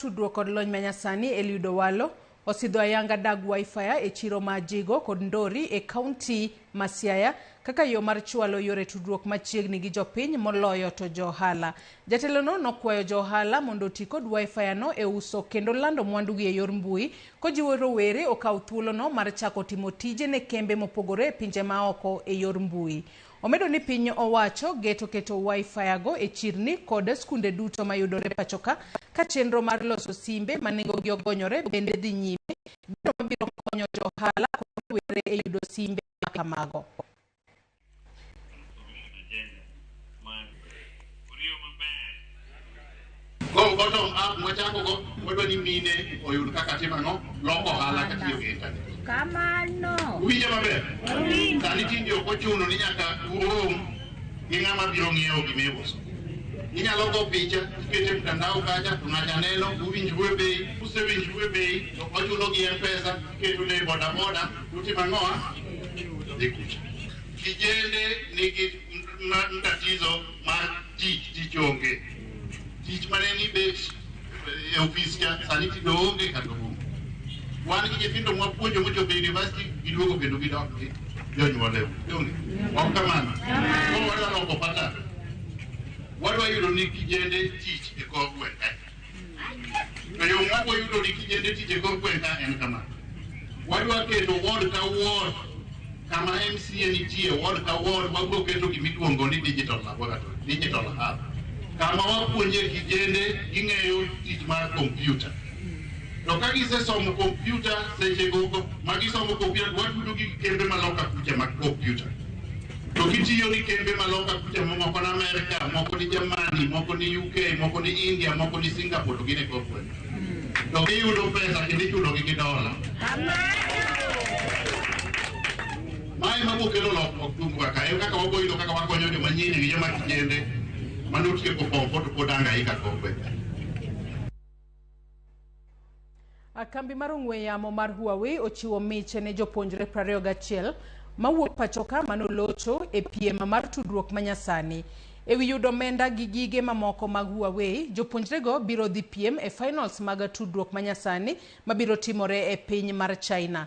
tudruok kod lony manyasani Eliud Owalo osidho ayanga dag Wi-Fi e chiro ma Jigo kod Ndori e kaunti ma Siaya kaka yo mar chwalo yore tudruok machiegni gi jopiny moloyo to jo ohala. Jatelono nokwayo jo ohala mondo oti kod Wi-Fi no e uso kendo lando mwandugi e yor mbui kojiwo rowere okaw thuolono mar chako timo tije ne kembe mopogore e pinje maoko e yor mbui. Omedo ni piny owacho geto keto Wi-Fi go e chirni kod skunde duto mayudore pachoka ka chenro mar loso simbe ma nengogi ogonyore bende dhi nyime, gino mabiro konyo jo ohala kod rowere e yudo simbe ma kamago. Go bottom up mwachako go wadwa ni mine oyud kaka timo ang'o loko ohala katiyo gi internet. Kamano. Uwinjo maber? Sani tinde ok ochuno ni nyaka urom gi ng'ama biro ng'iewo gima iuso. Inyalo go picha ikete e mtandao kacha to ng'acha neno uwinjru e bei, usewinjru e bei to ochulo gi M-Pesa iketo ne boda boda utimo ang'owa? Dhi kucha. Kijende nigi tatizo mar tich tich onge tich mane ni bet e ofis cha sani tich onge kata onge wan gi nyithindo mwapuonjo mochopo e university giduogo kendo gidok gi jonyuol ewu donge ok kamano ko wadwa loko pata wadwa yudo ni kijende tich e kor gweng' To yo ma wayudo ni kijende tije kor gweng' ka en kama. Wadwa keto ward ka ward kama MCA nitie ward ka ward wabiro keto gima iluongo ni digital laboratory, digital hub. Kama wapuonje kijende ging'eyo tich mar kompyuta. To ka gisesomo kompyuta seche gogo ma gisomo kompyuta watudo gi kembe ma loka kucha mag kompyuta. To gitiyo ni kembe ma loka kucha mo- moko ni Amerka, moko ni Germany, moko ni UK, moko ni India, moko ni Singapore to gin e corporate. To giyudo pesa kendo ichulogi gi dola. Mae ma bokelo lokruok tung' kaka en kaka waboyudo kaka wakonyo joma nyiri gi joma kijende manotieko form four to pod anga ika corporate. Kambi mar ong'we yamo mar Huawei ochiwo miche ne jopuonjre 21 mawuok pachoka manolocho e piem mar tudruok manyasani. Ewi yudo omenda gi gige mamoko mag Huawei, jopuonjrego biro dhi piem e finals mag tudruok manyasani mabiro timore e piny mar China.